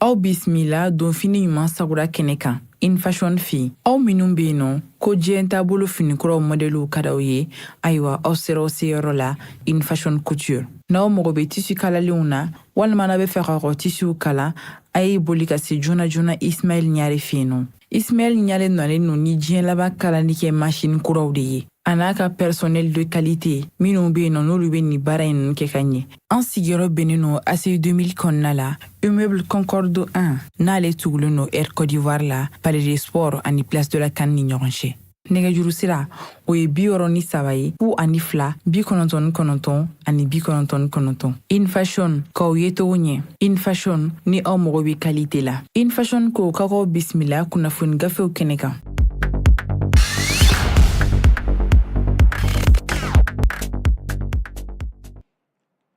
aw bisimila donfini ɲuman sagura kɛnɛ kan infashion fɛ aw minnu be yen nɔ ko diɲɛ taabolo finikuraw mɔdɛliw ka d'aw ye ayiwa aw sera aw seyɔrɔ la infashion couture n'aw mago be tisi kalalenw na walima n'a bɛ fɛ k'a ka tisiw kala a ye boli ka se joona joona ismaɛl ɲare fɛ yen nɔ ismaɛl ɲare nalen no ni diɲɛ laban kalali kɛ masini kuraw de ye a n'a ka personnel de qualité minnu bɛ yen nɔ n'olu bɛ nin baara in kɛ ka ɲɛ an sigiyɔrɔ bɛnnen no aci 2000 kɔnɔna la immeuble concorde 1 n'ale tugulen no air côte d'ivoire la palais des sports ani place de la can ni ɲɔgɔn cɛ nɛgɛjuru sira o ye bi wɔrɔ ni saba ye fu ani fila bi kɔnɔntɔn ni kɔnɔntɔn ani bi kɔnɔntɔn ni kɔnɔntɔn infashion k'aw ye togo ɲɛ infashion ni aw mago bɛ qualité la infashion ko ka k'aw bisimila kunnafoni gafew kɛnɛ kan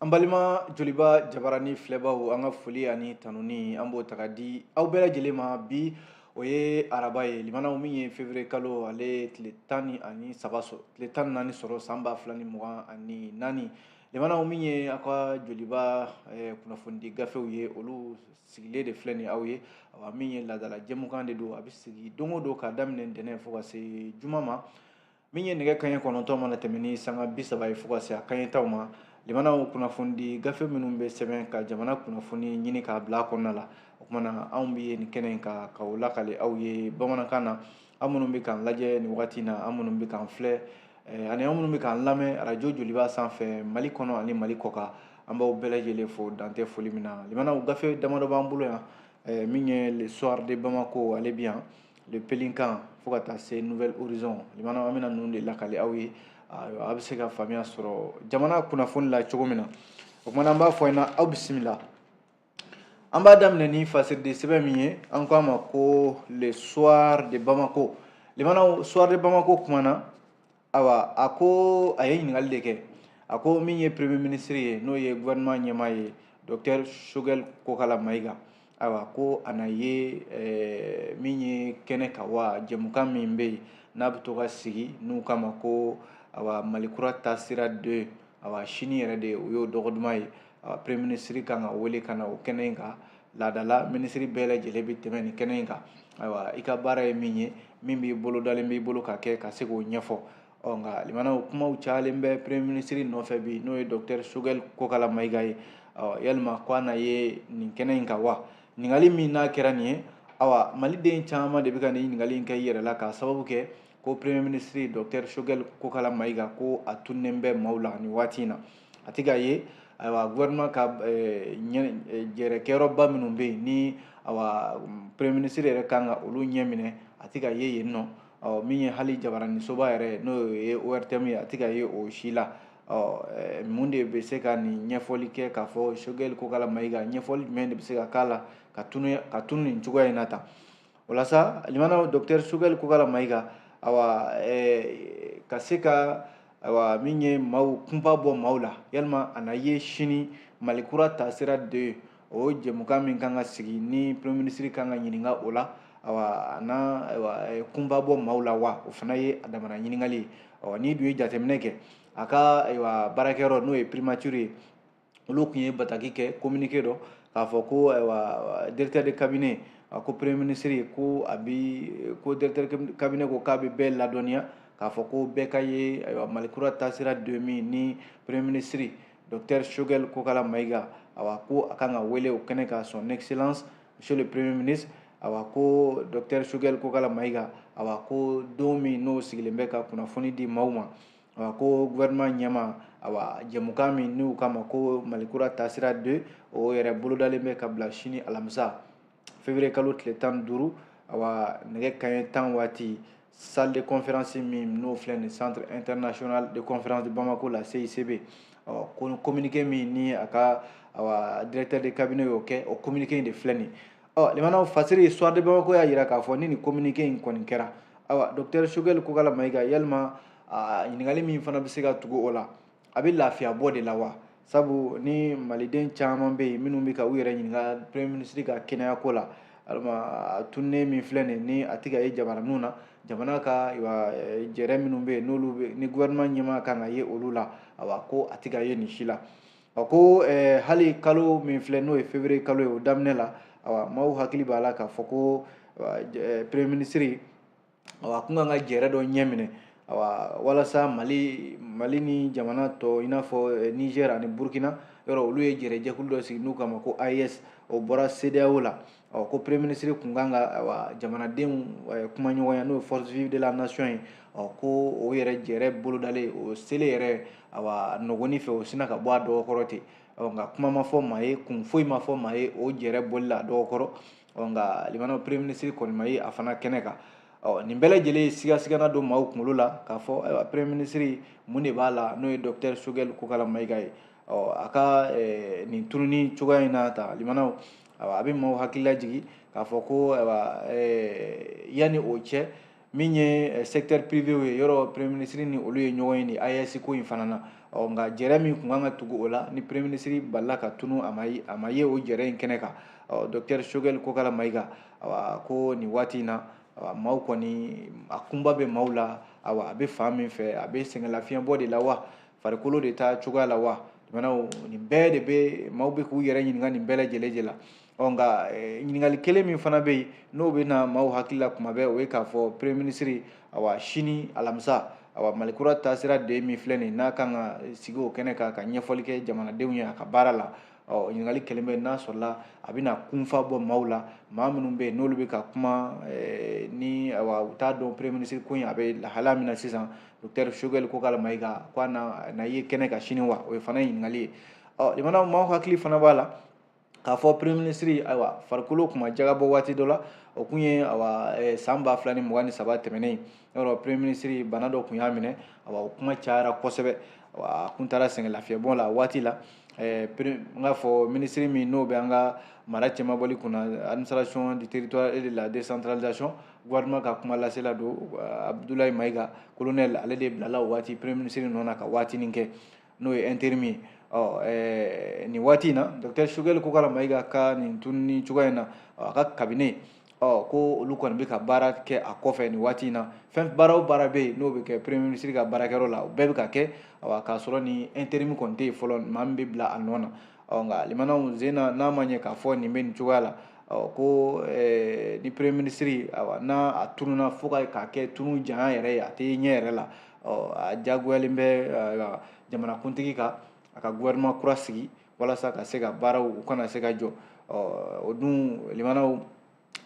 an balima joliba jabarani filɛbaw an ka foli ani tanuni an b'o ta ka di aw bɛɛ lajɛlen ma bi o ye araba ye limanaw min ye février kalo ale tile tan ni ani saba sɔrɔ tile tan ni naani sɔrɔ san ba fila ni mugan ani naani limanaw min ye aw ka joliba eh, kunnafonidi gafew ye olu sigilen de filɛ nin aw ye awa min ye laadala jɛmukan de don a bɛ sigi don o don k'a daminɛ ntɛnɛn fo ka se juma ma min ye nɛgɛ kaɲɛ kɔnɔntɔn mana tɛmɛ ni sanga bi saba ye fo ka se a kaɲɛ tan ma limanaw kunnafonidi gafe minnu bɛ sɛbɛn ka jamana kunnafoni ɲini k'a bila a kɔnɔna la o kumana anw bɛ nin kɛnɛ in kan ka o lakali aw ye bamanankan na aw minnu bɛ k'an lajɛ nin wagati in na aw minnu bɛ k'an filɛ eh, ani aw minnu bɛ k'an lamɛn arajo joliba sanfɛ mali kɔnɔ ani mali kɔkan an b'aw bɛɛ lajɛlen fo dan tɛ foli min na limanaw gafe damadɔ b'an bolo yan eh, min ye le soir de bamako ale bi yan le pélican fo ka taa se nouvel horizon limana an bɛna ninnu de lakali aw ye aw bɛ se ka faamuya sɔrɔ jamana kunnafoni la cogo min na o kumana an b'a fɔ ɲɛna aw bisimila an b'a daminɛ ni fasiriden sɛbɛn min ye an k'a ma ko le soir de bamako limanaw soir de bamako kumana awa a ko a ye ɲininkali de kɛ a ko min ye premier ministre ye n'o ye gouvernement ɲɛmaa ye docteur choguel kokalla maïga awa ko a na ye eh, min ye kɛnɛ kan wa jɛmukan min bɛ yen n'a bɛ to ka sigi n'u k'a ma ko awa mali kura taasira deux awa sini yɛrɛ de o y'o dɔgɔ duman ye awa premier ministre kan ka wele ka na o kɛnɛ in kan laadala minisiri bɛɛ lajɛlen bɛ tɛmɛ nin kɛnɛ in kan ayiwa i ka baara ye min ye min b'i bolo dalen b'i bolo ka kɛ ka se k'o ɲɛfɔ ɔ nka limanaw kumaw cayalen bɛ premier ministre nɔfɛ bi n'o ye docteur choguel kokala mayiga ye ɔ yalima ko a na ye nin kɛnɛ in kan wa ɲininkali min n'a kɛra nin ye awa maliden caman de bɛ ka nin ɲininkali in kɛ i yɛrɛ la k'a sababu kɛ ko premier ministre docteur choguel kokala mayiga ko a tununnen bɛ maaw la nin waati in na a tɛ ka ye ayiwa gouvernement ka jɛrɛkɛyɔrɔba minnu bɛ yen ni awa premier ministre yɛrɛ kan ka olu ɲɛ minɛ a tɛ ka ye yen nɔ ɔ min ye hali jabaranisoba yɛrɛ n'o ye ORTM ye a tɛ ka ye o si la ɔ mun de bɛ se ka nin ɲɛfɔli kɛ k'a fɔ Choguel Kokala Mayiga ɲɛfɔli jumɛn de bɛ se ka k'a la ka tunu nin cogoya in na tan walasa limana docteur choguel kokala mayiga awa eh, ka se ka awa min ye maaw kunpa bɔ maaw la yalima a na ye sini mali kura taasira 2 o jɛmukan min kan ka sigi ni premier ministre kan ka ɲininka o la awa a na awa eh, kunpa bɔ maaw la wa o fana ye a damana ɲininkali ye awa n'i dun ye jateminɛ kɛ a ka ayiwa baarakɛyɔrɔ n'o ye primature ye olu tun ye bataki kɛ communiqué dɔ k'a fɔ ko ayiwa directeur de cabinet a ko premier ministre ko a bi ko directeur de cabinet ko k'a bɛ bɛɛ ladɔnniya k'a fɔ ko bɛɛ ka ye ayiwa mali kura taasira 2 min ni premier ministre docteur choguel kokala mayiga awa ko a kan ka wele o kɛnɛ kan son excellence monsieur le premier ministre awa ko docteur choguel kokala mayiga awa ko don min n'o sigilen bɛ ka kunnafoni di maaw ma A ko gouvernement ɲɛmaa, awa, jɛmukan min n'u k'a ma ko Malikura taasira 2, o yɛrɛ bolodalen bɛ ka bila sini alamisa, février kalo tile 15, awa, nɛgɛ kanɲɛ 10 waati, salle de conférence min n'o filɛ nin centre international de conférence de Bamako la CICB, ɔ, ko communiqué min ni a ka awa, directeur de cabinet y'o kɛ, o communiqué in de filɛ nin ye. ɔ limanaw fasiri soir de bamako y'a jira k'a fɔ ni nin communiqué in kɔni kɛra ayiwa docteur choguel kokala mayiga yalima ɲininkali min fana bɛ se ka tugu o la a bɛ lafiya bɔ de la wa sabu ni maliden caman bɛ yen minnu bɛ ka u yɛrɛ ɲininka premier ministre ka kɛnɛya ko la alima tununnen min filɛ nin ni a tɛ ka ye jabaraninw na jamana ka jɛrɛ minnu bɛ yen n'olu ni gouvernement ɲɛmaa kan ka ye olu la awa ko a tɛ ka ye nin si la A ko hali kalo min filɛ n'o ye février kalo ye o daminɛ la awa maaw hakili b'a la k'a fɔ ko premier ministre awa tun kan ka jɛrɛ dɔ ɲɛ minɛ awa walasa mali mali ni jamana tɔ i n'a fɔ niger ani burukina yɔrɔ olu ye jɛrɛjɛkulu dɔ sigi n'u k'a ma ko AES o bɔra CEDEAO la ɔ ko premier ministre kun kan ka awa jamanadenw eh, kumaɲɔgɔnya n'o ye forces vives de la nation ye ɔ ko o yɛrɛ jɛrɛ bolodalen o selen yɛrɛ awa nɔgɔni fɛ o sina ka bɔ a dɔgɔ kɔrɔ ten ɔ nka kuma ma fɔ maa ye kun foyi ma fɔ maa ye o jɛrɛ bɔli la a dɔgɔ kɔrɔ ɔ nka limanaw premier ministre kɔni ma ye a fana kɛnɛ kan ɔ nin bɛɛ lajɛlen sigasigana don maaw kunkolo la k'a fɔ ayiwa premier ministre mun de b'a la n'o ye docteur Choguel Kokala Mayiga ye ɔ a ka eh, nin tununi cogoya in na ta limanaw a bɛ maaw hakili lajigin k'a fɔ ko eh, yanni o cɛ min ye eh, secteur privé ye yɔrɔ premier ministre ni olu ye ɲɔgɔn ye nin AES ko in fana na ɔ nka jɛrɛ min kun kan ka tugu o la ni premier ministre balala ka tunu a ma ye o jɛrɛ in kɛnɛ kan ɔ docteur Choguel Kokala Mayiga awa ko nin waati in na awa maaw kɔni a kunba bɛ maaw la awa a bɛ fan min fɛ a bɛ sɛgɛnlafiɲɛbɔ de la wa farikolo de t'a cogoya la wa limanaw nin bɛɛ de bɛ maaw bɛ k'u yɛrɛ ɲininka nin bɛɛ lajɛlen de la ɔ nka eh, ɲininkali kelen min fana bɛ yen n'o bɛ na maaw hakili la kuma bɛɛ o ye k'a fɔ premier ministre awa sini alamisa awa malikura taasira de min filɛ nin n'a kan ka sigi o kɛnɛ kan ka ɲɛfɔli kɛ jamanadenw ye a ka baara la ɔ ɲininkali kelen bɛ n'a sɔrɔla a bɛna kunfa bɔ maaw la maa minnu bɛ yen n'olu bɛ ka kuma eh, ni awa u t'a dɔn premier ministre ko in a bɛ lahala min na sisan docteur Choguel Kokala Mayiga ko a na ye kɛnɛ kan sini wa o ye fana ɲininkali ye ɔ limanaw maaw hakili fana b'a la k'a fɔ premier ministre ayiwa farikolo kun b'a jagabɔ waati dɔ la o kun ye awa eh, san ba fila ni mugan ni saba tɛmɛnen yɔrɔ premier ministre bana dɔ kun y'a minɛ awa o kuma cayara kosɛbɛ a kun taara sɛgɛnlafiɲɛbɔ la waati la eh, n k'a fɔ minisiri min n'o bɛ an ka mara cɛmabɔli kunna administration du territoire et de la décentralisation gouvernement ka kumalasela don Abdoulaye Mayiga colonel ale de bilala o waati premier ministre nɔ na ka waatinin kɛ n'o ye intérim ye ɔ eh, nin waati in na docteur Choguel Kokala Mayiga ka nin tununi cogoya in na a ka cabinet ɔ ko olu kɔni bɛ ka baara kɛ a kɔfɛ nin waati in na fɛn baara o baara bɛ yen n'o bɛ kɛ premier ministre ka baarakɛyɔrɔ la o bɛɛ bɛ ka kɛ awa k'a sɔrɔ ni intérim kɔni tɛ yen fɔlɔ maa min bɛ bila a nɔ na ɔ nka limanaw sen na n'a ma ɲɛ k'a fɔ nin bɛ nin cogoya la ɔ ko eh, ni premier ministre awa n'a a tununa fo ka k'a kɛ tunu janya yɛrɛ ye a tɛ ɲɛ yɛrɛ la ɔ a diyagoyalen bɛ uh, jamanakuntigi kan a ka gouvernement kura sigi walasa ka se ka baaraw u kana se ka jɔ ɔ o dun limanaw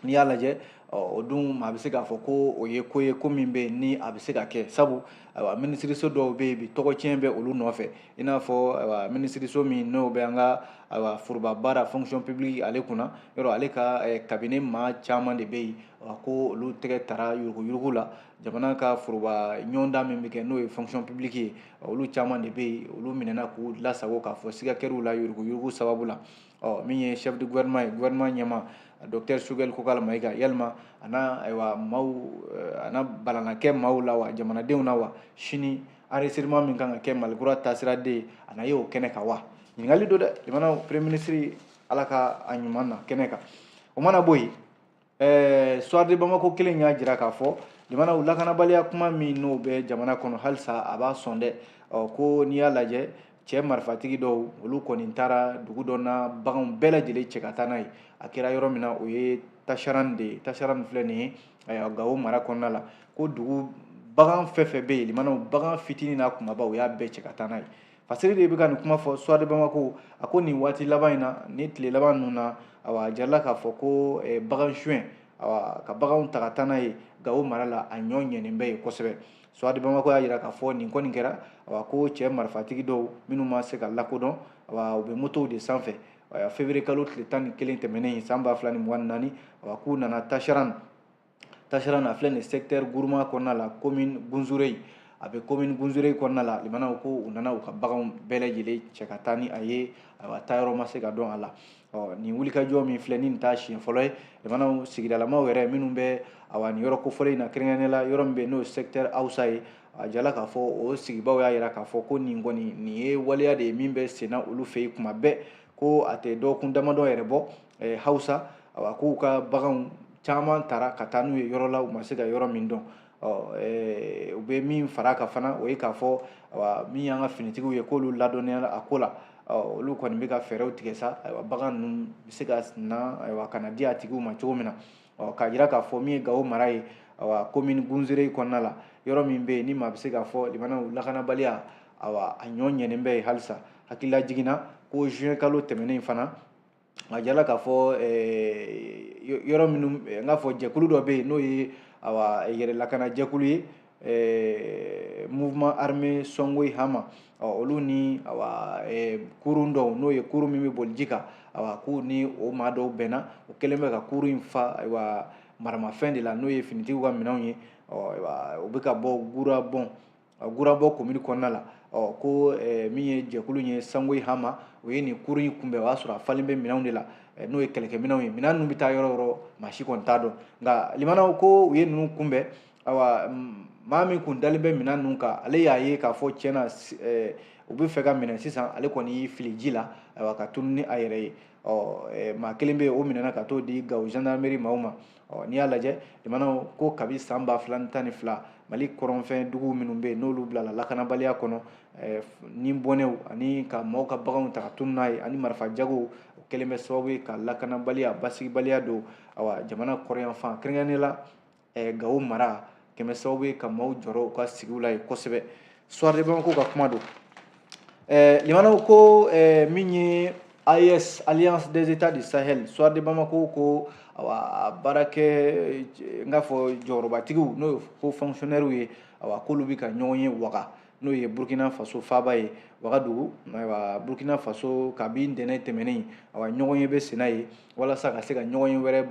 n'i y'a lajɛ o dun maa bɛ se k'a fɔ ko o ye ko ye ko min bɛ yen ni a bɛ se ka kɛ sabu ayiwa minisiriso dɔw bɛ yen bi tɔgɔcɛn bɛ olu nɔfɛ i n'a fɔ ayiwa minisiriso min n'o bɛ an ka ayiwa foroba baara fonction publique ale kunna yɔrɔ ale ka cabinet maa caman de bɛ yen ko olu tɛgɛ tara yuruguyurugu la jamana ka foroba ɲɔgɔndan min bɛ kɛ n'o ye fonction publique ye olu caman de bɛ yen olu minɛna k'u lasago k'a fɔ siga kɛr'u la yuruguyurugu sababu la ɔ min ye chef de gouvernement ye gouvernement ɲɛmaa docteur choguel kokala mayiga yalima a na ayiwa maaw a na balana kɛ maaw la wa jamanadenw na wa sini enregistrement min kan ka kɛ malikura taasira de ye a na ye o kɛnɛ kan wa ɲininkali don dɛ jamana premier ministre ala ka a ɲuman na kɛnɛ kan o mana bɔ yen ɛɛ soir de bamako kelen y'a jira k'a fɔ limanaw lakanabaliya kuma min n'o bɛ jamana kɔnɔ halisa a b'a sɔn dɛ ɔ ko n'i y'a lajɛ cɛ marifatigi dɔw olu kɔni taara dugu dɔ na baganw bɛɛ lajɛlen cɛ ka taa n'a ye a kɛra yɔrɔ min na o ye tasharan de ye tasharan filɛ nin ye gawo mara kɔnɔna la ko dugu bagan fɛn fɛn bɛ yen limanaw bagan fitinin n'a kumaba u y'a bɛɛ cɛ ka taa n'a ye fasiri de bɛ ka nin kuma fɔ soir de bamako a ko nin waati laban in na ni tile laban ninnu na awa a jirala k'a fɔ ko eh, bagan suɲɛ awa ka baganw ta ka taa n'a ye gawo mara la a ɲɔ ɲɛnen bɛ yen kosɛbɛ soir de bamako y'a jira k'a fɔ nin kɔni kɛra awa ko cɛ marifatigi dɔw minnu ma se ka lakodɔn awa u bɛ motow de sanfɛ février kalo tile tan ni kelen tɛmɛnen san ba fila ni mugan ni naani awa k'u nana tasharan tasharan filɛ nin secteur gourma kɔnɔna la commune Gunzurɛyi a bɛ commune Gunzurɛyi kɔnɔna la limanaw ko u nana u ka baganw bɛɛ lajɛlen cɛ ka taa ni a ye ayiwa taayɔrɔ ma se ka dɔn a la ɔ nin wulikajɔ min filɛ ni nin t'a siɲɛ fɔlɔ ye limanaw sigidalamaw yɛrɛ minnu bɛ awa nin yɔrɔ kofɔlen in na kɛrɛnkɛrɛnnenya la yɔrɔ min bɛ n'o ye secteur awusa ye a jirala k'a fɔ o sigibaaw y'a jira k'a fɔ ko nin kɔni nin ye waleya de ye min bɛ senna olu fɛ yen tuma bɛɛ ko a tɛ dɔgɔkun damadɔ yɛrɛ bɔ hausa a k'u ka baganw caman tara ka taa n'u ye yɔrɔ la u ma se ka yɔrɔ min dɔn u bɛ min fara kan fana o ye k'a fɔ min y'an ka finitigiw ye k'olu ladɔnniyara a ko la olu kɔni bɛ ka fɛɛrɛw tigɛ sa ayiwa bagan ninnu bɛ se ka na ayiwa ka na di a tigiw ma cogo min na k'a jira k'a fɔ min ye gawo mara ye awa komini gunzurɛyi kɔnɔna la yɔrɔ min bɛ yen ni maa bɛ se k'a fɔ limanaw lakanabaliya awa a ɲɔ ɲɛnen bɛ yen halisa hakililajigin na ko juin kalo tɛmɛnen fana a jirala k'a fɔ yɔrɔ minnu n k'a fɔ jɛkulu dɔ bɛ yen n'o ye yɛrɛlakana jɛkulu ye mouvement armé sɔngoyi hama olu ni kurun dɔw n'o ye kurun min bɛ boli ji kan k'u ni o maa dɔw bɛnna u kɛlen bɛ ka kurun in fa maramafɛn de la n'o ye finitigiw ka minɛnw ye u bɛ ka bɔ gurabɔ gurabɔ komini kɔnɔna la ko min ye jɛkulu ye sɔngoyi hama o ye nin kurun in kunbɛn o y'a sɔrɔ a falen bɛ minɛnw de la n'o ye kɛlɛkɛminɛnw ye minɛn ninnu bɛ taa yɔrɔ yɔrɔ maa si kɔni t'a dɔn nka limanaw ko u ye ninnu kunbɛn awa maa min kun dalen bɛ minɛn ninnu kan ale y'a ye k'a fɔ tiɲɛ na u bɛ fɛ k'a minɛ sisan ale kɔni y'i fili ji la ayiwa ka tunu ni a yɛrɛ ye ɔ maa kelen bɛ yen o minɛna ka t'o di gawo zandarameri maaw ma ɔ n'i y'a lajɛ jamanaw ko kabi san ba fila ni tan ni fila mali kɔrɔnfɛn dugu minnu bɛ yen n'olu bilala lakanabaliya kɔnɔ eh, ni bɔnɛw ani ka maaw ka baganw ta ka tunu n'a ye ani marifa jagow kɛlen bɛ sababu ye ka lakanabaliya basigibaliya don awa jamana kɔrɔyanfan kɛrɛnkɛrɛnnen la eh, gawo mara kɛlen bɛ sababu ye ka maaw jɔrɔ u ka sigiw la yen kosɛbɛ Soir de Bamako ka kuma don ɛɛ limanaw ko ɛɛ min ye AES Alliance des États du Sahel Soir de Bamako ko awa baarakɛ n k'a fɔ jɔyɔrɔbatigiw n'o ye ko fonctionnaires ye awa k'olu bɛ ka ɲɔgɔn ye waga n'o ye burkina faso faaba ye wagadugu ayiwa burkina faso kabi ntɛnɛn tɛmɛnen awa ɲɔgɔn ye bɛ senna ye walasa ka se ka ɲɔgɔn ye wɛrɛ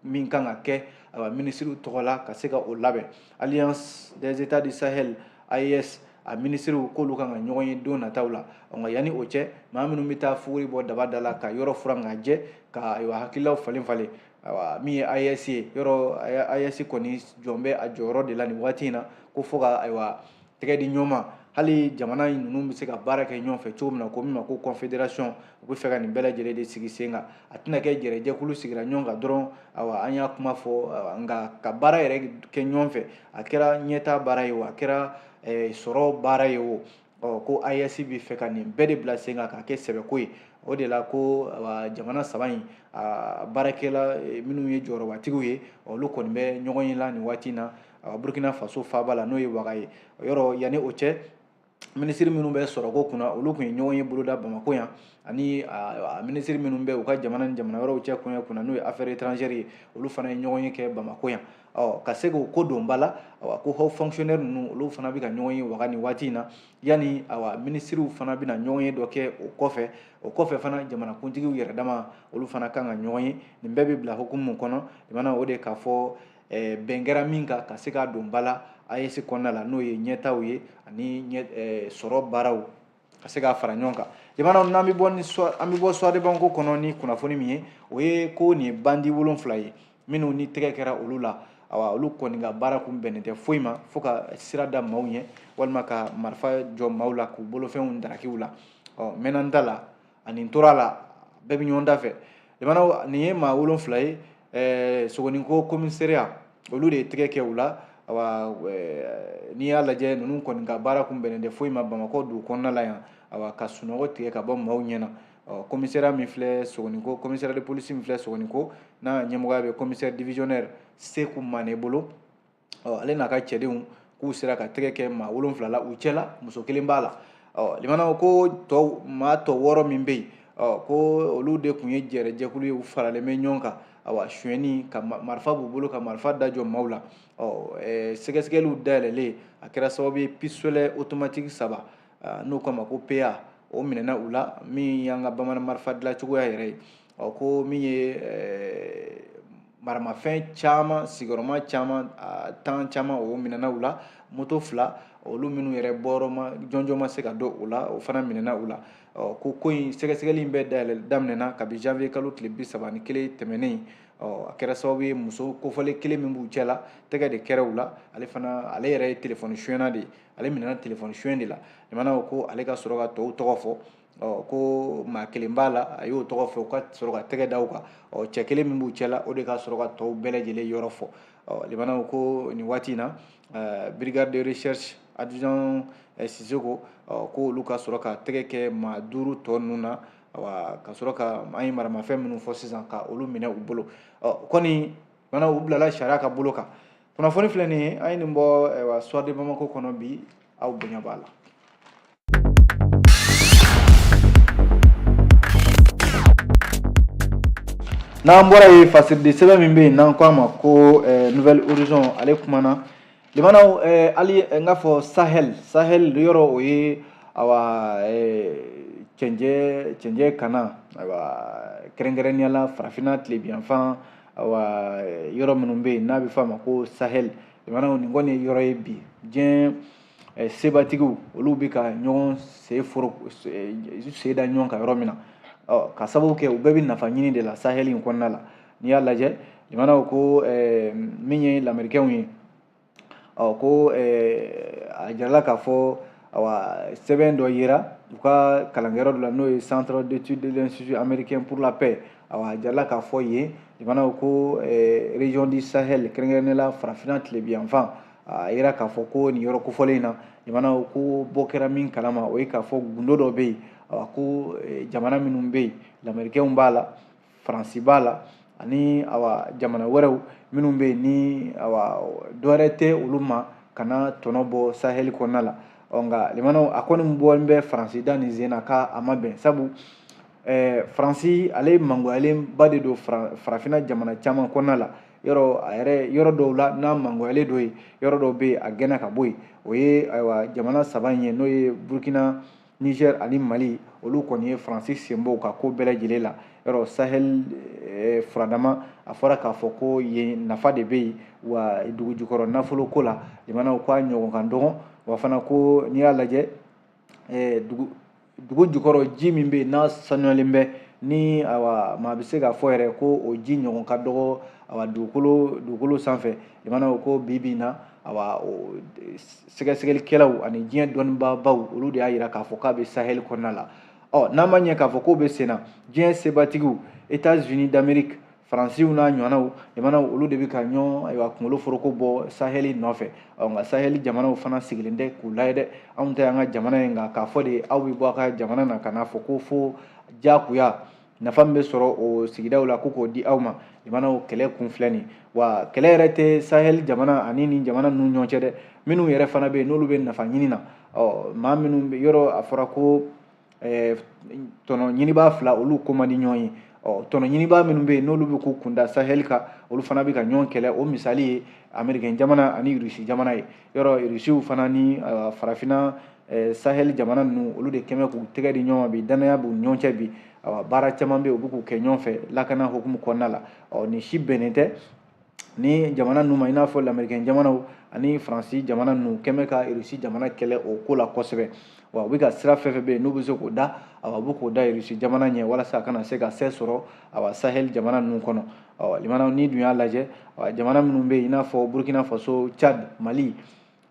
min kan ka kɛ ayiwa minisiriw tɔgɔ la ka se ka o labɛn alliance des états du sahel AES a minisiriw k'olu kan ka ɲɔgɔn ye don nataw la nka yanni o cɛ maa minnu bɛ taa fuguri bɔ daba da la ka yɔrɔ furan ka jɛ ka ayiwa hakililaw falen falen ayiwa min ye AES ye yɔrɔ AES kɔni jɔlen bɛ a jɔyɔrɔ de la nin waati in na ko fo ka ayiwa tɛgɛ di ɲɔgɔn ma hali jamana in ninnu bɛ se ka baara kɛ ɲɔgɔn fɛ cogo min na ko min ma ko confédération u bɛ fɛ ka nin bɛɛ lajɛlen de sigi sen kan a tɛna kɛ jɛrɛjɛkulu sigira ɲɔgɔn kan dɔrɔn awa an y'a kuma fɔ nka ka baara yɛrɛ kɛ ɲɔgɔn fɛ a kɛra ɲɛtaa baara ye o a kɛra eh, sɔrɔ baara ye o ɔ ko AES bɛ fɛ ka nin bɛɛ de bila sen kan k'a kɛ sɛbɛko ye o de la ko jamana saba in baarakɛla eh, minnu ye jɔyɔrɔbatigiw ye olu kɔni bɛ ɲɔgɔn ye la nin waati in na ayiwa burkina faso faaba la n'o ye waga ye yɔrɔ yanni o cɛ minisiri minnu bɛ sɔrɔko kunna olu tun ye ɲɔgɔn ye boloda bamako yan ani minisiri minnu bɛ u ka jamana ni jamana wɛrɛw cɛ kɔɲɛ kunna n'o ye affaires étrangères ye olu fana ye ɲɔgɔn ye kɛ bamako yan ɔ ka se k'o ko don ba la awa ko haut fonctionnaire ninnu olu fana bɛ ka ɲɔgɔn ye waga nin waati in na yanni awa minisiriw fana bɛna ɲɔgɔn ye dɔ kɛ o kɔfɛ o kɔfɛ fana jamanakuntigiw yɛrɛ dama olu fana kan ka ɲɔgɔn ye nin bɛɛ bɛ bila hukumu kɔnɔ jamana o de k'a fɔ eh, bɛn kɛra min kan ka se k'a don ba la AES kɔnɔna la n'o ye ɲɛtaaw ye ani ɲɛ eh, sɔrɔ baaraw ka se k'a fara ɲɔgɔn kan jamanaw n'an bɛ bɔ ni an bɛ bɔ Soir de Bamako kɔnɔ ni kunnafoni min ye o ye ko nin ye bandi wolonfila ye minnu ni tɛgɛ kɛra olu la awa olu kɔni ka baara kun bɛnnen tɛ foyi ma fo ka sira da maaw ɲɛ walima ka marifa jɔ maaw la k'u bolofɛnw daraki u la ɔ mɛnna n da la ani n tora la bɛɛ bɛ ɲɔgɔn da fɛ jamanaw nin ye maa wolonfila ye ɛɛ sogoninko commissariat olu de ye tɛgɛ kɛ u la awa n'i y'a lajɛ ninnu kɔni ka baara kun bɛnnen tɛ foyi ma bamakɔ dugu kɔnɔna la yan awa ka sunɔgɔ tigɛ ka bɔ maaw ɲɛ na commissariat min filɛ sogoninko commissariat de police min filɛ sogoninko n'a ɲɛmɔgɔya bɛ commissaire divisionnaire seku mane bolo ɔ ale n'a ka cɛdenw k'u sera ka tɛgɛ kɛ maa wolonfila la u cɛ la muso kelen b'a la ɔ limanaw ko tɔ maa tɔ wɔɔrɔ min bɛ yen ɔ ko olu de tun ye jɛrɛjɛkulu ye u faralen bɛ ɲɔgɔn kan awa suyɛni ka marifa b'u bolo ka marifa da jɔ maaw la ɔ sɛgɛsɛgɛliw dayɛlɛlen a kɛra sababu ye pisolɛ otomatiki saba n'o k'a ma ko PA o minɛna u la min y'an ka bamanan marifa dilancogoya yɛrɛ ye ɔ ko min ye eh, maramafɛn caman sigiyɔrɔma caman tan caman o minɛna u la moto fila olu minnu yɛrɛ bɔyɔrɔ ma jɔnjɔn ma se ka dɔn o la o fana minɛna u la ko ko in sɛgɛsɛgɛli in bɛɛ dayɛlɛ daminɛna kabi janvier kalo tile bi saba ni kelen tɛmɛnen a kɛra sababu ye muso kofɔlen kelen min b'u cɛ la tɛgɛ de kɛra u la ale fana ale yɛrɛ ye telefɔni suyɛnna de ye ale minɛna telefɔni suyɛn de la limanaw ko ale ka sɔrɔ ka tɔw tɔgɔ fɔ ɔ ko maa kelen b'a la a y'o tɔgɔ fɔ ka sɔrɔ ka tɛgɛ da o kan ɔ cɛ kelen min b'u cɛla o de ka sɔrɔ ka tɔw bɛɛ lajɛlen yɔrɔ fɔ ɔ limanaw ko nin waati in na eh, brigade de recherche adjudant eh, sisoko ɔ ko olu ka sɔrɔ ka tɛgɛ kɛ maa duuru tɔ ninnu na awa ka sɔrɔ ka an ye maramafɛn minnu fɔ sisan ka olu minɛ u bolo ɔ kɔni limanaw u bilala sariya ka bolo kan kunnafoni filɛ nin ye an ye nin bɔ eh, wa soir de bamako kɔnɔ bi aw bonya b'a la n'an bɔra yen fasiriden sɛbɛn min bɛ yen n'an k'a ma ko eh, nouvel horizon ale kumana limanaw eh, hali eh, n k'a fɔ sahel sahel yɔrɔ o ye awa cɛncɛn cɛncɛn kan na awa kɛrɛnkɛrɛnnenya la farafinna tilebiyanfan awa yɔrɔ minnu bɛ yen n'a bɛ fɔ a ma ko sahel limanaw nin kɔni ye yɔrɔ ye bi diɲɛ sebatigiw olu bɛ ka ɲɔgɔn sen sen da ɲɔgɔn kan yɔrɔ min na ka sababu kɛ u bɛɛ bɛ nafa ɲini de la sahɛli in kɔnɔna la n'i y'a lajɛ limanaw ko min ye lamerikɛnw ye ɔ ko a jirala k'a fɔ awa sɛbɛn dɔ yera u ka kalankɛyɔrɔ dɔ la n'o ye centre d'étude de l'institut américain pour la paix awa a jirala k'a fɔ yen limanaw ko région du sahel kɛrɛnkɛrɛnnenya la farafinna tilebinyanfan a yira k'a fɔ ko nin yɔrɔ kofɔlen in na limanaw ko bɔ kɛra min kalama o ye k'a fɔ gundo dɔ bɛ yen ko e, jamana minnu bɛ yen lamerikɛnw b'a la faransi b'a la ani awa jamana wɛrɛw minnu bɛ yen ni awa dɔwɛrɛ tɛ olu ma ka na tɔnɔ bɔ sahɛli kɔnɔna la ɔ nka limanaw a kɔni bɔlen bɛ faransi da nin sen na k'a ma bɛn sabu eh, faransi ale ye mangoyalenba de don farafinna jamana caman kɔnɔna la yɔrɔ a yɛrɛ yɔrɔ dɔw la n'a mangoyalen don yen yɔrɔ dɔw bɛ yen a gɛnna ka bɔ yen o ye ayiwa jamana saba in ye n'o ye burkina niger ani mali olu kɔni ye faransi sen bɔ u ka ko bɛɛ lajɛlen la yɔrɔ sahel eh, furadama a fɔra k'a fɔ ko yen nafa de bɛ yen wa dugujukɔrɔ nafolo ko la limanaw ko a ɲɔgɔn ka dɔgɔn wa fana ko n'i y'a lajɛ ɛɛ dugu dugu jukɔrɔ ji min bɛ yen n'a sanuyalen bɛ ni awa maa bɛ se k'a fɔ yɛrɛ ko o ji ɲɔgɔn ka dɔgɔ awa dugukolo dugukolo sanfɛ limanaw ko bi bi in na awa o sɛgɛsɛgɛlikɛlaw ani diɲɛ dɔnnibaabaw olu de y'a jira k'a fɔ k'a bɛ sahɛli kɔnɔna la ɔ n'an ma ɲɛ k'a fɔ k'o bɛ sen na diɲɛ sebatigiw etats unis d'amerique faransiw n'a ɲɔgɔnnaw limanaw olu de bɛ ka ɲɔgɔn ayiwa kunkolo foroko bɔ sahɛli nɔfɛ ɔ nka sahɛli jamanaw fana sigilen tɛ k'u lajɛ dɛ anw tɛ an ka jamana ye nka k'a fɔ de aw bɛ bɔ a ka jamana na ka n'a fɔ ko fo diyagoya nafa min bɛ sɔrɔ o sigidaw la ko k'o di aw ma limanaw kɛlɛ kun filɛ nin wa kɛlɛ yɛrɛ tɛ sahɛli jamana ani nin jamana ninnu ɲɔgɔn cɛ dɛ minnu yɛrɛ fana bɛ yen n'olu bɛ nafa ɲini na ɔ maa minnu bɛ yɔrɔ a fɔra ko ɛɛ tɔnɔ ɲinibaa fila olu ko man di ɲɔgɔn ye ɔ tɔnɔ ɲinibaa minnu bɛ yen n'olu bɛ k'u kun da sahɛli kan olu fana bɛ ka ɲɔgɔn kɛlɛ o misali ye amerikɛn jamana ani rusi jamana ye yɔrɔ rusiw fana ni farafinna sahɛli jamana ninnu olu de kɛn bɛ k'u tɛgɛ di ɲɔgɔn ma bi dannaya b'u ɲɔgɔn cɛ bi baara caman bɛ yen u bɛ k'u kɛ ɲɔgɔn fɛ lakana hukumu kɔnɔna la ɔ nin si bɛnnen tɛ nin jamana ninnu ma i n'a fɔ lamerikɛn jamanaw ani faransi jamana ninnu kɛn bɛ ka rusi jamana kɛlɛ o ko la kosɛbɛ wa u bɛ ka sira fɛn fɛn bɛ yen n'u bɛ se k'o da awa u bɛ k'o da rusi jamana ɲɛ walasa a kana se ka se sɔrɔ awa sahel jamana ninnu kɔnɔ awa limanaw n'i dun y'a lajɛ awa jamana minnu bɛ yen i n'a fɔ burkina faso tchad mali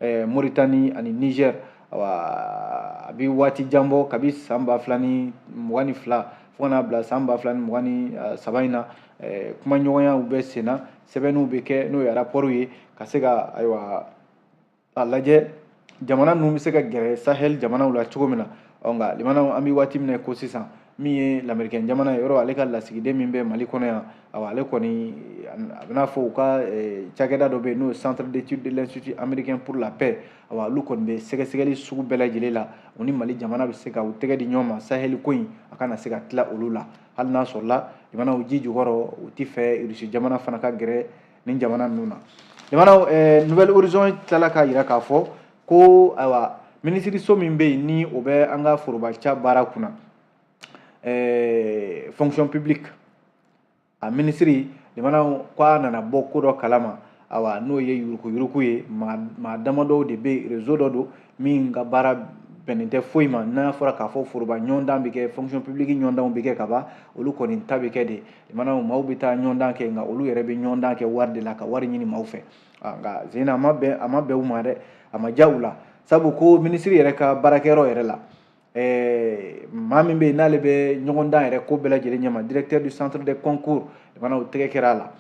eh, moritani ani niger awa a bi waati jan bɔ kabi san ba fila ni mugan ni fila fo ka n'a bila san ba fila ni mugan ni eh, saba in na eh, kumaɲɔgɔnyaw bɛ senna sɛbɛnniw bɛ kɛ n'o ye rapɔriw ye ka se ka ayiwa a lajɛ jamana ninnu bɛ se ka gɛrɛ sahɛli jamanaw la cogo min na ɔ nka limanaw an bɛ waati min na ko sisan min ye lamerikɛn jamana ye yɔrɔ ale ka lasigiden min bɛ mali kɔnɔ yan awa ale kɔni a bɛn'a fɔ u ka eh, cakɛda dɔ bɛ yen n'o ye centre d'étude de l'institut américain pour la paix awa olu kɔni bɛ sɛgɛsɛgɛli sugu bɛɛ lajɛlen la u ni mali jamana bɛ se ka u tɛgɛ di ɲɔgɔn ma sahɛli ko in a kana se ka tila olu la hali n'a sɔrɔla limanaw ji jukɔrɔ u t'a fɛ rusi jamana fana ka gɛrɛ nin jamana ninnu na limanaw eh, nouvel horizon tilala k'a jira k'a fɔ ko ayiwa minisiriso min bɛ yen ni o bɛ an ka forobaca baara kunna ɛɛ fonction publique a minisiri jamana ko a nana bɔ ko dɔ kalama awa n'o ye yurukuyuruku ye maa damadɔw de bɛ réseau dɔ don min ka baara bɛnnen tɛ foyi ma n'a fɔra k'a fɔ foroba ɲɔgɔndan bɛ kɛ fonction publique ɲɔgɔndanw bɛ kɛ ka ban olu kɔni ta bɛ kɛ de jamana maaw bɛ taa ɲɔgɔndan kɛ nka olu yɛrɛ bɛ ɲɔgɔndan kɛ wari de la ka wari ɲini maaw fɛ nka sen a ma bɛn a ma bɛn u ma dɛ a ma diya u la sabu ko minisiri yɛrɛ ka baarakɛyɔrɔ yɛrɛ la ɛɛ maa min bɛ yen n'ale bɛ ɲɔgɔndan yɛrɛ ko bɛɛ lajɛlen ɲɛma directeur du centre de concours fana o tɛgɛ kɛra a la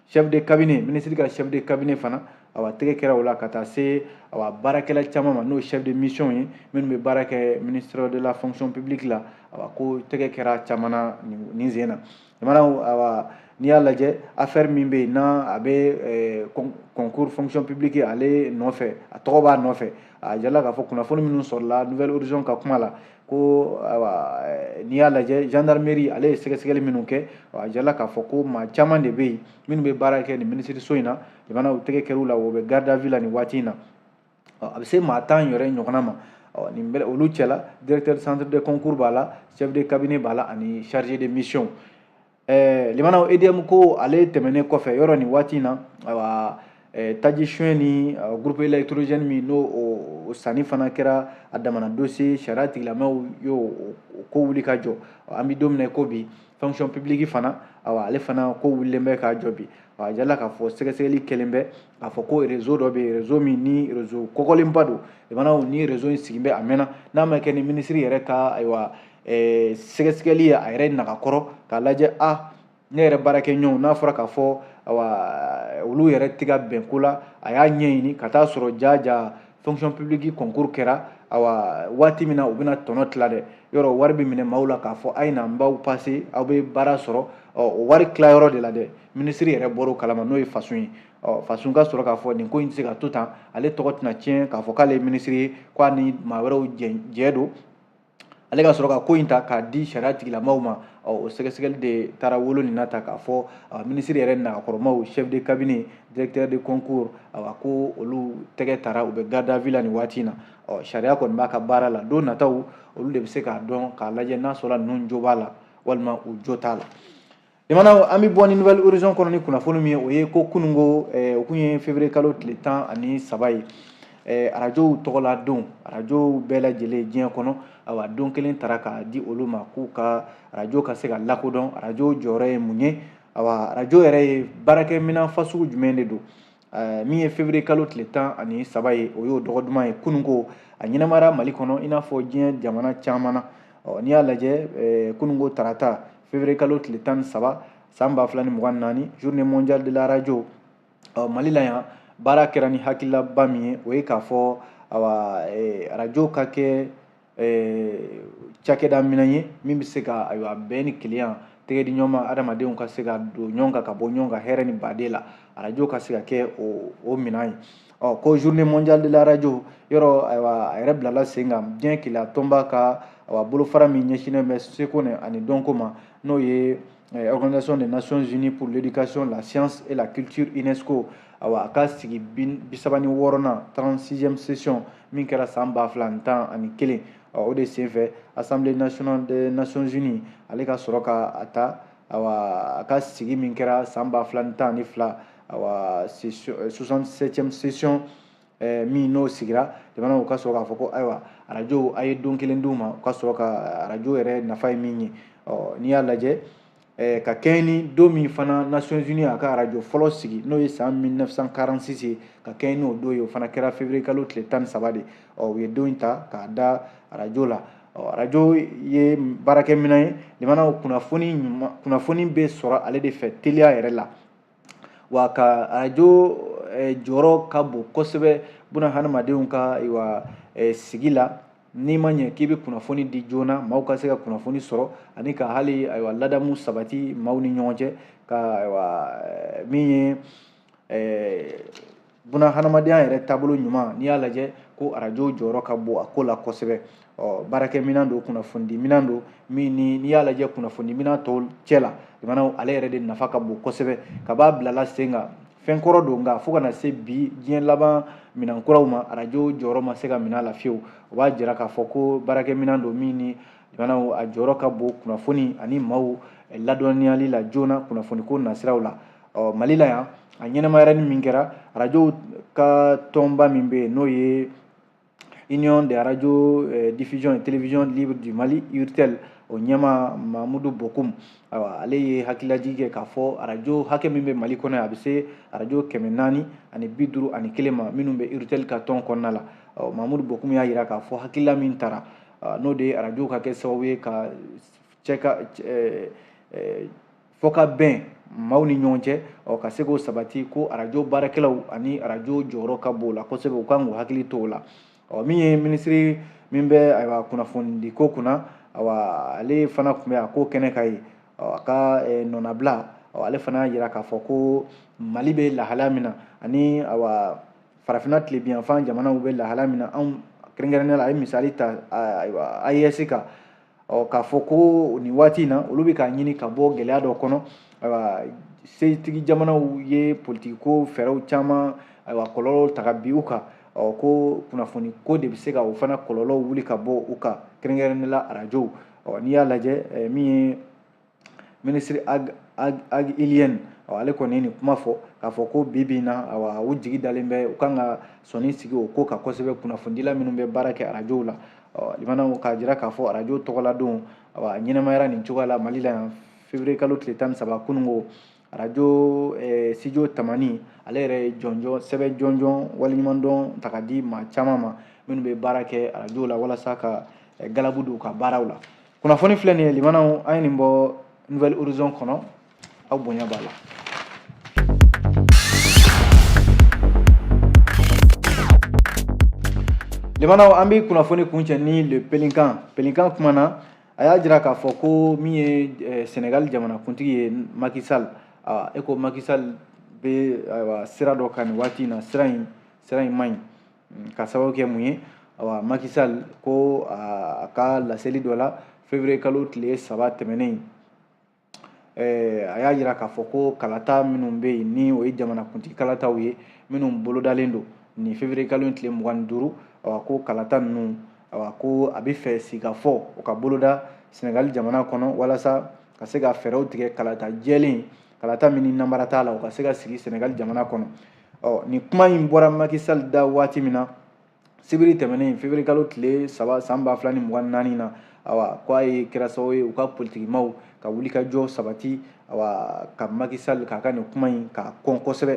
chef de cabinet minisiri ka chef de cabinet fana awa tɛgɛ kɛra o la ka taa se awa baarakɛla caman ma n'o chef de mission ye minnu bɛ baara kɛ ministère de la fonction publique la awa ko tɛgɛ kɛra caman na nin sen na jamana awa n'i y'a lajɛ affaire min bɛ yen n'a a bɛ concours fonction publique ale nɔfɛ a tɔgɔ b'a nɔfɛ a jirala k'a fɔ kunnafoni minnu sɔrɔla nouvel horizon ka kuma la ko n'i y'a lajɛ gendarmerie ale ye sɛgɛsɛgɛli minnu kɛ a jirala k'a fɔ ko maa caman de bɛ yen minnu bɛ baara kɛ nin minisiriso in na jamanaw tɛgɛ kɛr'u la o bɛ garde à vue la nin waati in na a bɛ se maa tan yɛrɛ ɲɔgɔnna ma nin bɛ olu cɛla directeur centre de concours b'a la chef de cabinet b'a la ani chargé de mission ɛɛ limanaw edm ko ale tɛmɛnen kɔfɛ yɔrɔ nin waati in na ayiwa taji suɲɛ ni groupe électrogène minnu sanni fana kɛra a damana dossier sariya tigilamaaw y'o ko wuli ka jɔ an bɛ don min na ko bi fonction publique fana ayiwa ale fana ko wulilen bɛ ka jɔ bi a jirala k'a fɔ sɛgɛsɛgɛli kɛlen bɛ k'a fɔ ko réseau dɔ bɛ yen réseau min ni réseau kɔgɔlenba don jamanaw ni réseau in sigilen bɛ a mɛnna n'a ma kɛ ni minisiri yɛrɛ ka ayiwa eh, sɛgɛsɛgɛli ye a yɛrɛ naga kɔrɔ k'a lajɛ a ah, ne yɛrɛ baarakɛ ɲɔgɔnw n'a fɔra k'a fɔ awa olu yɛrɛ tɛ ka bɛn ko la a y'a ɲɛɲini ka taa sɔrɔ ja ja fonction publique concours kɛra awa waati min na u bɛna tɔnɔ tila dɛ yɔrɔ wari bɛ minɛ maaw la k'a fɔ a ye na n b'aw pase aw bɛ baara sɔrɔ ɔ o wari tilayɔrɔ de la dɛ minisiri yɛrɛ bɔra o kalama n'o ye fasun ye fasun ka sɔrɔ k'a fɔ nin ko in tɛ se ka to tan ale tɔgɔ tɛna tiɲɛ k'a fɔ k'ale ye minisiri ye k'a ni maa wɛrɛw jɛ don ale ka sɔrɔ ka ko in ta k'a di sariya tigilamaaw ma o sɛgɛsɛgɛli de taara wolo nin na ta k'a fɔ minisiri yɛrɛ nagakɔrɔmaaw chef de cabinet directeur de concours awa ko olu tɛgɛ tara u bɛ garde à vue la nin waati in na ɔ sariya kɔni b'a ka baara la don nataw olu de bɛ se k'a dɔn k'a lajɛ n'a sɔrɔla ninnu jo b'a la walima u jo t'a la jamana an bɛ bɔ ni nouvel horizon kɔnɔ ni kunnafoni min ye o ye ko kununko eh, o kun ye février kalo tile tan ani saba ye eh, arajow tɔgɔla don arajow bɛɛ lajɛlen diɲɛ kɔnɔ awa don kelen tara k'a di olu ma k'u ka arajo ka se ka lakodɔn arajo jɔyɔrɔ ye mun ye awa arajo yɛrɛ ye baarakɛminɛn fasugu jumɛn de don eh, min ye février kalo tile tan ani saba ye o y'o dɔgɔ duman ye kununko a ɲɛnamayara mali kɔnɔ i n'a fɔ diɲɛ jamana caman na n'i y'a lajɛ kununko tarata février kalo tile tan ni saba san ba fila ni mugan naani journée mondiale de la radio ɔ mali la yan baara kɛra ni hakililaba min ye o ye k'a fɔ awa eh, radio ka kɛ eh, cakɛda minɛn ye min bɛ se ka ayiwa bɛn ni kelenya tɛgɛ di ɲɔgɔn ma adamadenw ka se ka don ɲɔgɔn kan ka bɔ ɲɔgɔn kan hɛrɛ ni badenya la arajo ka se ka kɛ o o minɛn ye ɔ ko journée mondiale de la radio yɔrɔ ayiwa a yɛrɛ bilala sen kan diɲɛ kelenya tɔnba ka awa bolofara min ɲɛsinnen bɛ seko ani dɔnko ma n'o ye eh, organisation des nations unies pour l'éducation la science et la culture unesco awa a ka sigi bisaba ni wɔɔrɔnan 36e session min kɛra san ba fila ni tan ani kelen o de senfɛ assemblée nationale des nations unies ale ka sɔrɔ ka a ta awa a ka sigi min kɛra san ba fila ni tan ni fila ayiwa 67e session eh, min n'o sigira jamanaw ka sɔrɔ k'a fɔ ko ayiwa arajo a ye don kelen d'u ma u ka sɔrɔ ka arajo yɛrɛ nafa ye min ye n'i y'a lajɛ eh, ka kɛɲɛ ni don min fana nations unies y'a ka arajo fɔlɔ sigi n'o ye san 1946 ye ka kɛɲɛ n'o don ye o fana kɛra février kalo tile tan ni saba de u ye don in ta k'a da arajo la arajo ye baarakɛminɛn ye jamanaw kunnafoni bɛ sɔrɔ ale de fɛ teliya yɛrɛ la wa ka arajo eh, jɔyɔrɔ ka bon kosɛbɛ buna hadamadenw ka wa eh, sigi la n'i ma ɲɛ k'i bɛ kunnafoni di joona maaw ka se ka kunnafoni sɔrɔ ani ka hali ayiwa ladamu sabati maaw ni ɲɔgɔn cɛ ka ayiwa eh, min ye buna hadamadenya yɛrɛ taabolo ɲuman n'i y'a lajɛ ko arajo jɔyɔrɔ ka bon a ko la kosɛbɛ ɔ baarakɛminɛn don kunnafonidiminɛn don min ni n'i y'a lajɛ kunnafonidiminɛn tɔw cɛ la jamana ale yɛrɛ de nafa ka bon kosɛbɛ kab'a bilala sen kan fɛn kɔrɔ don nka fo ka na se bi diɲɛ laban minɛn kuraw ma arajo jɔyɔrɔ ma se ka minɛ a la fiyewu o b'a jira k'a fɔ ko baarakɛminɛn don min ni jamanaw a jɔyɔrɔ ka bon kunnafoni ani maaw ladɔnniyali la joona kunnafoniko nasiraw la ɔ mali la yan a ɲɛnamayara ni min kɛra arajow ka tɔnba min bɛ yen n'o ye union de radio eh, diffusion et télévision libre du mali urtel o ɲɛmaa mamudu bokum awa ale ye hakililajigi kɛ k'a fɔ arajo hakɛ min bɛ mali kɔnɔ a bɛ se arajo kɛmɛ naani ani bi duuru ani kelen ma minnu bɛ urtel ka tɔn kɔnɔna la mamudu bokum y'a jira k'a fɔ hakilila min tara n'o de ye arajo ka kɛ sababu ye ka cɛ ka eh, eh, fɔ ka bɛn maaw ni ɲɔgɔn cɛ ɔ ka se k'o sabati ko arajo baarakɛlaw ani arajo jɔyɔrɔ ka bon o la kosɛbɛ u kan k'u hakili to o la ɔ min ye minisiri min bɛ ayiwa kunnafonidi ko kunna awa ale fana tun bɛ a ko kɛnɛ kan yen a ka eh, nɔnabila ale fana y'a jira k'a fɔ ko mali bɛ lahalaya min na ani awa farafinna tilebiyanfan jamanaw bɛ lahalaya min na anw kɛrɛnkɛrɛnnenya la a ye misali ta ayiwa ayɛsi kan ɔ k'a fɔ ko nin waati in na olu bɛ k'a ɲini ka bɔ gɛlɛya dɔ kɔnɔ ayiwa setigi jamanaw ye politikiko fɛɛrɛw caman ayiwa kɔlɔlɔw ta ka bin u kan ɔ ko kunnafoni ko de bɛ se ka o fana kɔlɔlɔw wuli ka bɔ u kan kɛrɛnkɛrɛnnenya la arajow ɔ n'i y'a lajɛ min ye minisiri ag iliyɛn ale kɔni ye nin kuma fɔ k'a fɔ ko bi bi in na awa u jigi dalen bɛ u kan ka sɔnin sigi o ko kan kosɛbɛ kunnafonidila minnu bɛ baara kɛ arajow la lamɛnnaw k'a jira k'a fɔ arajo tɔgɔladon awa ɲɛnamayara nin cogoya la mali la yan fevrier kalo tile tan ni saba kununko arajo eh, studio tamani ale yɛrɛ ye jɔnjɔn sɛbɛn jɔnjɔn waleɲumandɔn ta ka di maa caman ma minnu bɛ baara kɛ arajo la walasa ka eh, galabu don u ka baaraw la kunnafoni filɛ nin ye lamɛnnaw an ye nin bɔ nouvel horizon kɔnɔ aw bonya b'a la lamɛnnaw an bɛ kunnafoni kuncɛ ni le pélican pélican kuma na a y'a jira k'a fɔ ko min ye eh, senegali jamanakuntigi ye macky sall awa e ko macky sall bɛ ayiwa sira dɔ kan nin waati in na sira in sira in man ɲi ka sababu kɛ mun ye awa macky sall ko a ka laseli dɔ la fevrier kalo tile saba tɛmɛnen a y'a yira k'a fɔ ko kalata minnu bɛ yen ni o ye jamanakuntigi kalataw ye minnu bolodalen don nin fevrier kalo in tile mugan ni duuru ko kalata ninnu ko a b'a fɛ sigikafɔ o ka boloda sɛnɛgali jamana kɔnɔ walasa ka se ka fɛɛrɛw tigɛ kalata jɛlen kalata min ni namara t'a la o ka se ka sigi sɛnɛgali jamana kɔnɔ ɔ nin kuma in bɔra macky sall da waati min na sibiri tɛmɛnen fevrier kalo tile saba san ba fila ni mugan naani na awa ko a ye kɛra sababu ye u ka politikimaw ka wulikajɔ sabati awa ka macky sall k'a ka nin kuma in k'a kɔn kosɛbɛ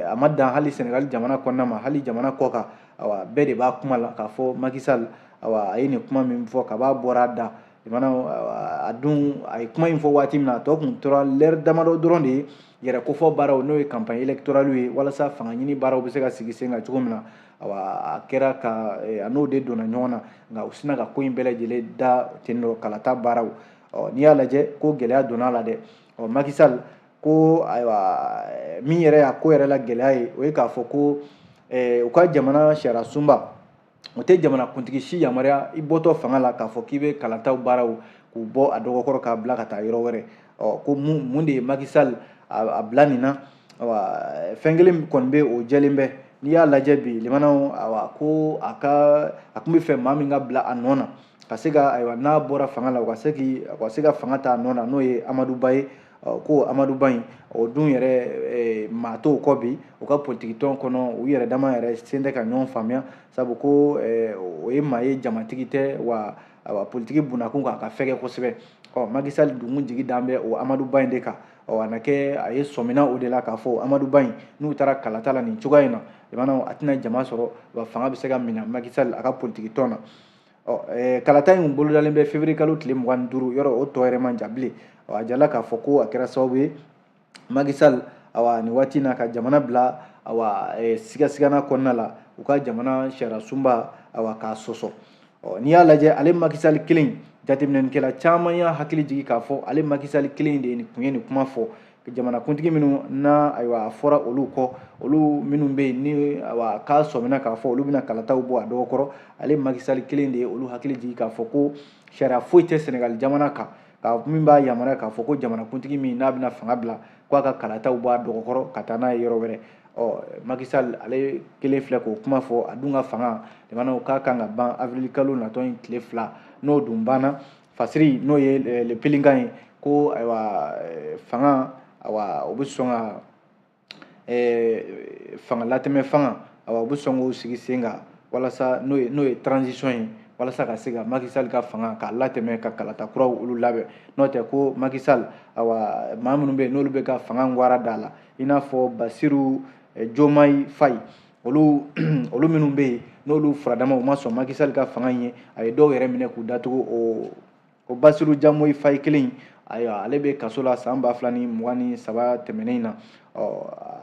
a ma dan hali senegali jamana kɔnɔna ma hali jamana kɔkan awa bɛɛ de b'a kuma la k'a fɔ macky sall awa a ye nin kuma min fɔ kab'a bɔra a da jamana a dun a ye kuma in fɔ waati min na a tɔ tun tora lɛri damadɔ dɔrɔn de ye yɛrɛkofɔ baaraw n'o ye kanpaɲi elektoraliw ye walasa fanga ɲini baaraw bɛ se ka sigi sen kan cogo min na awa a kɛra ka eh, a n'o de donna ɲɔgɔn na nka u sinna ka ko in bɛɛ lajɛlen da ten dɔ kalata baaraw ɔ n'i y'a lajɛ ko gɛlɛya donna a la dɛ ɔ macky sall ko ayiwa eh, min yɛrɛ y'a ko yɛrɛ la gɛlɛya ye o ye k'a fɔ ko eh, u ka jamana sariyasunba o tɛ jamanakuntigi si yamaruya i bɔtɔ fanga la k'a fɔ k'i bɛ kalataw baaraw k'u bɔ a dɔgɔkɔrɔ k'a bila ka taa yɔrɔ wɛrɛ ɔ ko mun de ye Macky Sall a bila nin na fɛn kelen kɔni bɛ o jɛlen bɛ n'i y'a lajɛ bi limanaw awa ko a kun bɛ fɛ maa min ka bila a nɔ na ka se ka ayiwa n'a bɔra fanga la u ka se k'i u ka se ka fanga ta a nɔ na n'o ye amadu ba ye ko amadu ba in o dun yɛrɛ maa t'o kɔ bi u ka politikitɔn kɔnɔ u yɛrɛ dama yɛrɛ sen tɛ ka ɲɔgɔn faamuya sabu ko o ye maa ye jamatigi tɛ wa politiki bunakun kan a ka fɛgɛ kosɛbɛ ɔ Macky Sall dun jigi dan bɛ o amadu ba in de kan ɔ a na kɛ a ye sɔmina o de la k'a fɔ amadu ba in n'u taara kalata la nin cogoya in na limanaw a tɛna jama sɔrɔ wa fanga bɛ se ka minɛ Macky Sall a ka politikitɔn na ɔ kalata in bolodalen bɛ février kalo tile mugan ni duuru yɔrɔ o tɔ yɛrɛ man jan bilen a jirala k'a fɔ ko a kɛra sababu ye Macky Sall awa nin waati na ka jamana bila awa sigasigana kɔnɔna la u ka jamana sariyasunba awa k'a sɔsɔ ɔ n'i y'a lajɛ ale Macky Sall kelen jateminɛnikɛla caman y'a hakili jigin k'a fɔ ale Macky Sall kelen de ye nin kun ye nin kuma fɔ jamanakuntigi minnu na ayiwa a fɔra olu kɔ olu minnu bɛ yen ni ayiwa k'a sɔmina k'a fɔ olu bɛna kalataw bɔ a dɔgɔ kɔrɔ ale Macky Sall kelen de ye olu hakili jigin k'a fɔ ko sariya foyi tɛ sɛnɛgali jamana kan min b'a yamaruya k'a fɔ ko jamanakuntigi min n'a bɛna fanga bila k'a ka kalataw bɔ a dɔgɔ kɔrɔ ka taa n'a ye yɔrɔ wɛrɛ ɔ Macky Sall ale kelen filɛ k'o kuma fɔ a dun ka fanga limanaw ka kan ka ban avril kalo natɔ in tile fila n'o dun banna fasiri n'o ye eh, le Pélican ye ko ayiwa eh, fanga awa o bɛ sɔn ka eh, fanga latɛmɛ fanga awa o bɛ sɔn k'o sigi sen kan walasa n'o ye n'o ye transition ye walasa ka se ka Macky Sall ka fanga k'a latɛmɛ ka kalata kuraw olu labɛn n'o tɛ ko Macky Sall awa maa minnu bɛ yen n'olu bɛ ka fanga ngwara d'a la i n'a fɔ Basiru Jomayi Fayi olu olu minnu bɛ yen n'olu furadama u ma sɔn Macky Sall ka fanga in ye a ye dɔw yɛrɛ minɛ k'u datugu o o basiru jamoyi fayi kelen ayiwa ale bɛ kaso la san ba fila ni mugan ni saba tɛmɛnen in na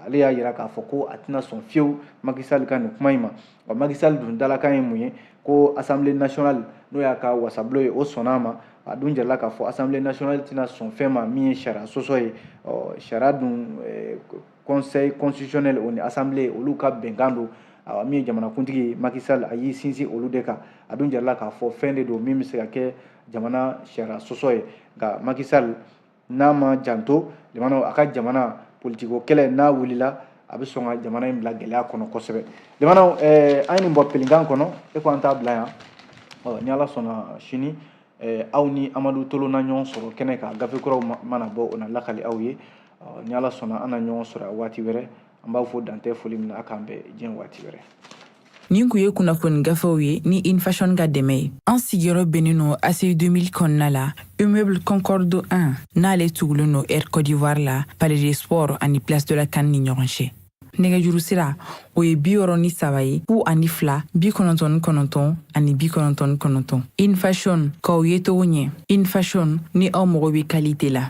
ale y'a jira k'a fɔ ko a tɛna sɔn fiyewu Macky Sall ka nin kuma in ma wa Macky Sall dun dalakan ye mun ye ko assemblée nationale n'o y'a ka wasabulon ye o sɔnna a ma a dun jirala k'a fɔ assemblée nationale tɛna sɔn fɛn ma min ye sariya sɔsɔ ye sariya dun conseil constitutionnel o ni assemblée olu ka bɛnkan don awa min ye jamanakuntigi Macky Sall a y'i sinsin olu de kan a dun jirala k'a fɔ fɛn de don min bɛ se ka kɛ jamana sariya sɔsɔ ye nka Macky Sall n'a ma janto limanaw a ka jamana politiko kɛlɛ n'a wulila a bɛ sɔn ka jamana in bila gɛlɛya kɔnɔ kosɛbɛ limanaw eh, an ye nin bɔ Pélican kɔnɔ e ko an t'a bila yan ɔ ni ala sɔnna sini eh, aw ni amadu tolo na ɲɔgɔn sɔrɔ kɛnɛ kan gafe kuraw mana bɔ o na lakali aw ye ni ala sɔnna an na ɲɔgɔn sɔrɔ a waati wɛrɛ an b'aw fo dan tɛ foli min na a k'an bɛn diɲɛ waati wɛrɛ nin kun ye kunnafoni gafew ye ni infashon ka dɛmɛ ye an sigiyɔrɔ bɛnnen nɔ aci 2000 kɔnɔna la immeuble concorde 1 n'ale tugulen nɔ air cote d'ivoire la palais des sports ani place de la can ni ɲɔgɔn cɛ nɛgɛjuru sira o ye bi wɔɔrɔ ni saba ye fu ani fila bi kɔnɔntɔn ni kɔnɔntɔn ani bi kɔnɔntɔn ni kɔnɔntɔn infashon k'aw yecogo ɲɛ infashon ni aw mago bɛ kalite la